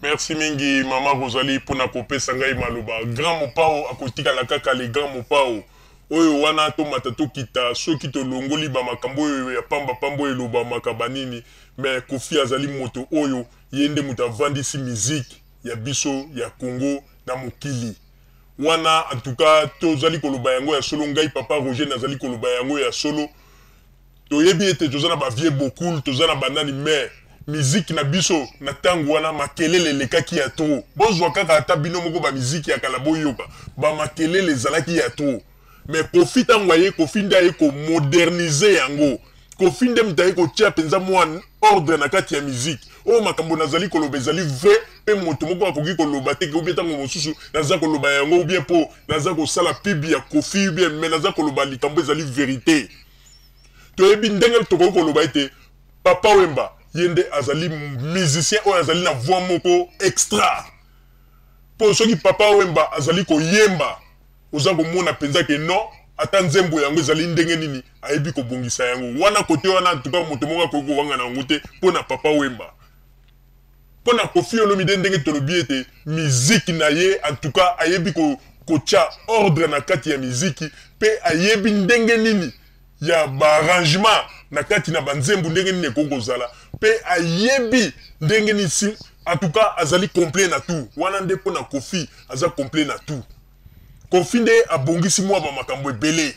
merci mingi mama rosalie mpo na kopesa ngai maloba grand mopao akotikala kaka le grand mopao oyo wana tomata tokita soki tolongoli bamakambo oyo ya pambapamba oyo elobamaka banini me kofi azali moto oyo ye nde moto avandisi miziki ya biso ya congo na mokili Wana en tout cas to zali ko loba yango ya solo ngai papa Roger na zali ko loba yango ya solo to yebi ete to za na ba vieux Bokul to za na ba nani mais miziki na biso na tango wana makelele elekaki ya trop bo zua kaka ata bino moko ba miziki ya kala bo yoka ba makelele ezalaki ya trop Mais Koffi tango aye Koffi nde aye ko moderniser yango. Koffi nde moto aye kotia penza mua ordre na kati ya musique. Oyo makambo nazali koloba ezali vrai pe moto moko akoki koloba te que ou bien tango mosusu naza koloba yango ou bien po naza kosala pub ya Koffi ou bien mais naza koloba likambo ezali verite. Toyebi ndenge tokoki koloba ete Papa Wemba ye nde azali musicien oyo azali na voix moko extra. Po soki Papa Wemba azali koyemba Oza komona penza que non, ata nzembo yango ezali ndenge nini ayebi kobongisa yango. Wana cote wana en tout cas moto moko akoki kowangana yango te mpo na Papa Wemba. Mpo na Koffi Olomide ndenge tolobi ete miziki na ye en tout cas ayebi ko kotia ordre na kati ya miziki mpe ayebi ndenge nini ya baarrangement na kati na banzembo ndenge nini ekoki kozala mpe ayebi ndenge nini si en tout cas azali complet na tout wana nde mpo na Koffi aza complet na tout Koffi nde abongisi mua ba makambo ebele.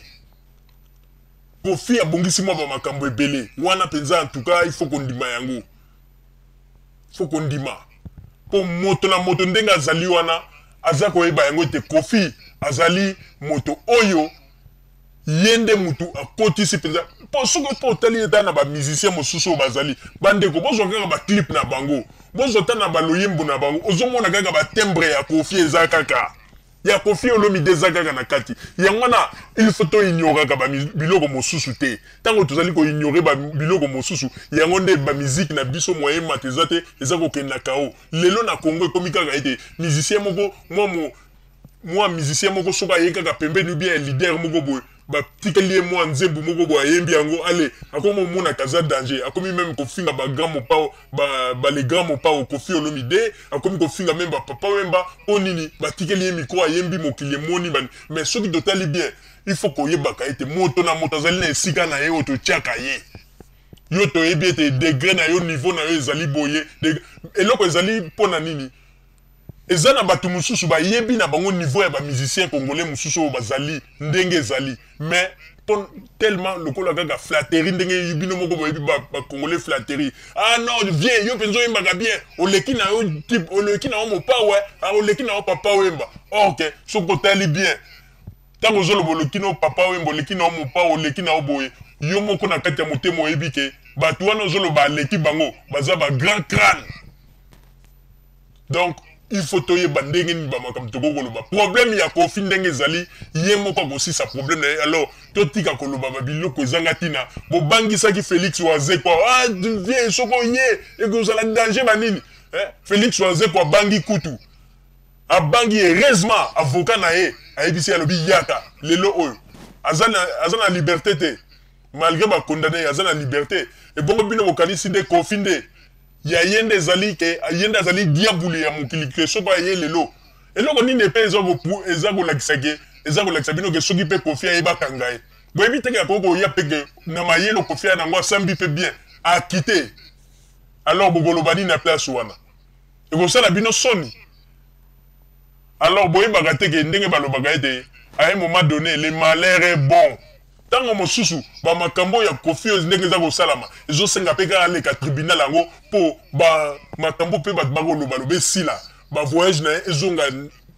Koffi abongisi mua ba makambo ebele. Wana penza en tout cas il faut kondima yango. Faut kondima. Po moto na moto ndenge azali wana aza koyeba yango ete Koffi azali moto oyo ye nde mutu akotisi mpenza mpo soki mpe otali ata na bamusicien mosusu oyo bazali bandeko bozwa kaka baclipe na bango bozwa ata na baloyembo na bango ozomona kaka batembre ya kofi eza kaka ya kofi olomide eza kaka na kati yango wana il faut toignoraka biloko mosusu te ntango tozali koignore biloko mosusu yango nde bamiziki na biso moye emata eza te eza kokende na kao lelo na kongo ekomi kaka ete musicien moko mwa mwa musicien moko soki aye kaka pembeni ou bien leader moko boye batikeli ye mwa nzembu moko boye ayembi yango ale akomi omonaka aza danger akomi meme kofinga bagrand mopao balegrand mopao kofi olomide akomi kofinga meme bapapa wemba mpo nini batikeli ye mikro ayembi mokili emoni bani mais soki totali bien il faut koyebaka ete moto na moto azali na esika na ye oyo totiaka ye yo toyebi ete degre na yo niveau na yo ezali boye eloko ezali mpo na nini Eza na batu mususu ba yebi na bango niveau ya ba musiciens congolais mususu oyo ba zali ndenge ezali mais po tellement lokola kaka flatterie ndenge bino moko bo yebi ba congolais flatterie ah non vieux yo penza oyembaka bien oleki na yo type oleki na yo mopao eh ah oleki na yo papa wemba or que soki otali bien tango ozo lobo oleki na yo papa wemba oleki na yo mopao oleki na yo boye yo moko na kati ya motema oyebi ke batu wana ozo loba aleki bango baza ba grand crane donc il faut toyeba ndenge nini bamakambo tokoki koloba problème ya kofi ndenge ezali ye moko akosisa problème na ye alors totika koloba babiloko ezanga ntina bobangisaki félix wazekwa ah, vie soko ye ekozala danger banini eh? félix wazekwa abangi kutu abangi heureusement avocat na ye ayebisi alobi yaka lelo oyo aza na, aza na liberté te malgré bakondane aza na liberté ebongo bino bokanisi nde kofi nde ya ye nde ezali ke ye nde azali diabulu ya mokili ke soko aye lelo eloko nini epe eza ko eza kolakisa ke eza kolakisa bino ke soki pe kofi aye bakanga ye boyebi teke akoki koya pe ke na mayele kofi aya nango asambi pe bien akite alors bokoloba nini na place wana ekosala bino soni alors boyebaka te ke ndenge balobaka ete à un moment donné le malheur est bon Tango mosusu ba makambo oyo ya koffi oyo ndenge eza kosalama ezo senga pe kaka aleka tribunal yango po ba makambo pe batu bako loba loba esila ba voyage na ye ezonga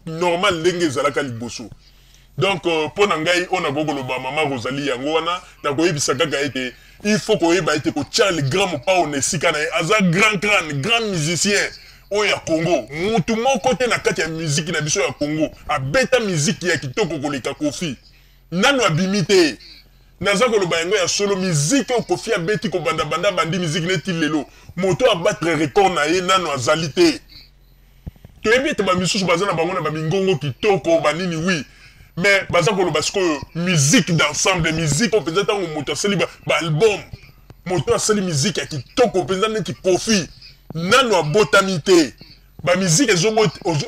normal ndenge ezalaka liboso donc euh, pona ngai oyo nakoki koloba mama Rosalie yango wana nakoyebisa kaka ete il faut koyeba ete kotia le grand mopao na esika na ye aza grand crane grand musicien oyo ya Congo mutu moko te na kati ya miziki na biso ya Congo abeta miziki ya kitoko koleka kofi Nanu abimi te naza koloba yango ya solo musique oyo koffi abeti kobanda banda abandi musique ne ti lelo moto a battre record na ye nanu azali te toyebi ete bamisusu baza na bango na bamingongo kitoko banini wi mais baza koloba sikoyo musique d'ensemble musique oyo mpenza ntango moto asali baalbum moto oyo asali musique ya kitoko mpenza neti kofi nano abotami te bamiziki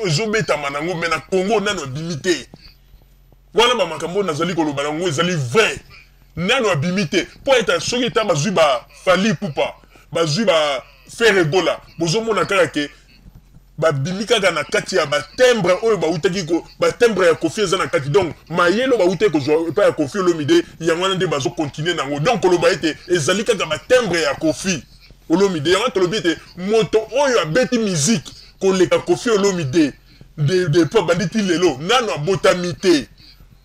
ezobetama nango mai na congo nano abimi te Wana ba makambo oyo nazali koloba na yango ezali vrai. Nano abimi te. Po eta soki eta bazui ba Fally Ipupa, bazui ba Ferre Gola, bozomona kaka ke babimi kaka na kati ya ba timbre oyo bautaki ko ba timbre ya Koffi eza na kati. Donc mayele oyo bautaki kozua epai ya Koffi Olomide yango wana nde bazo continuer na yango. Donc koloba ete ezali kaka ba timbre ya Koffi Olomide. Yango wana tolobi ete moto oyo abeti musique koleka Koffi Olomide, de, de epoque bandi ti lelo nano abotami te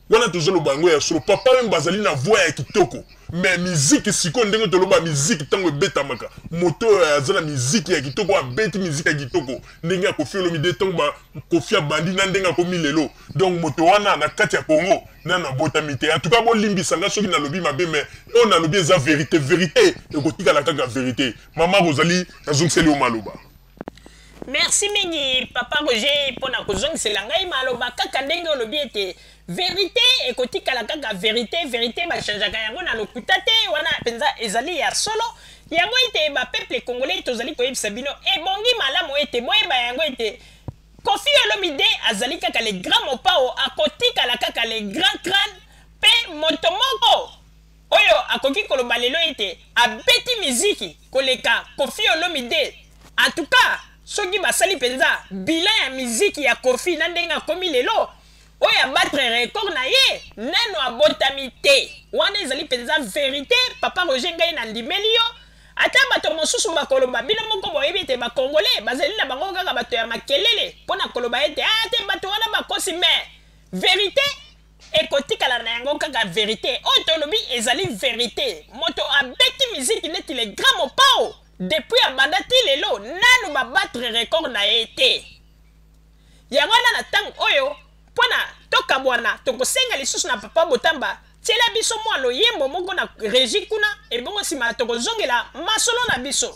wana tozoloba yango ya solo papa meme bazali na voix ya kitoko me miziki sikoyo ndenge toloba miziki ntango ebetamaka moto oyo aza na miziki ya kitoko abeti miziki ya kitoko ndenge akofi olomide ntango kofi abandi na ndenge akomi lelo donc moto wana na kati ya congo nano abotami te antuka bolimbisa ngai soki nalobi mabe me oyo nalobi eza verité verité ekotikala kaka verité mama ozali nazongiseli yo maloba Merci mingi papa Roger mpo na kozongisela ngai maloba kaka ndenge olobi ete verite ekotikala kaka verite verite bachangeaka yango na lokuta te wana mpenza ezali ya solo yango ete bapeuple congolais tozali koyebisa bino ebongi malamu ete boyeba yango ete kofi olomide azali kaka le grand mopao akotikala kaka le grand crane mpe moto moko Oyo akoki koloba lelo ete abeti miziki koleka Koffi Olomide? En tout cas, soki basali penza bilan ya miziki ya Koffi na ndenge akomi lelo, oyo a battre record na ye nanu abotami te. Wana ezali penza verite, papa Roger ngai na ndimeli yo. Ata bato mosusu bakoloba, bino moko boyebi ete ba Congolais bazali na bango kaka bato ya makelele mpo na koloba ete ah te bato wana bakosi mais verite ekotikala na yango kaka verite oyo tolobi ezali verite moto abeti miziki neti le grand mopao depuis abanda ti lelo nanu babatre record na ye te yango wana na ntango oyo mpo na tokabwana tokosenga lisusu na papa botamba tyela biso mwa loyembo moko na regi kuna ebongo nsima tokozongela masolo na biso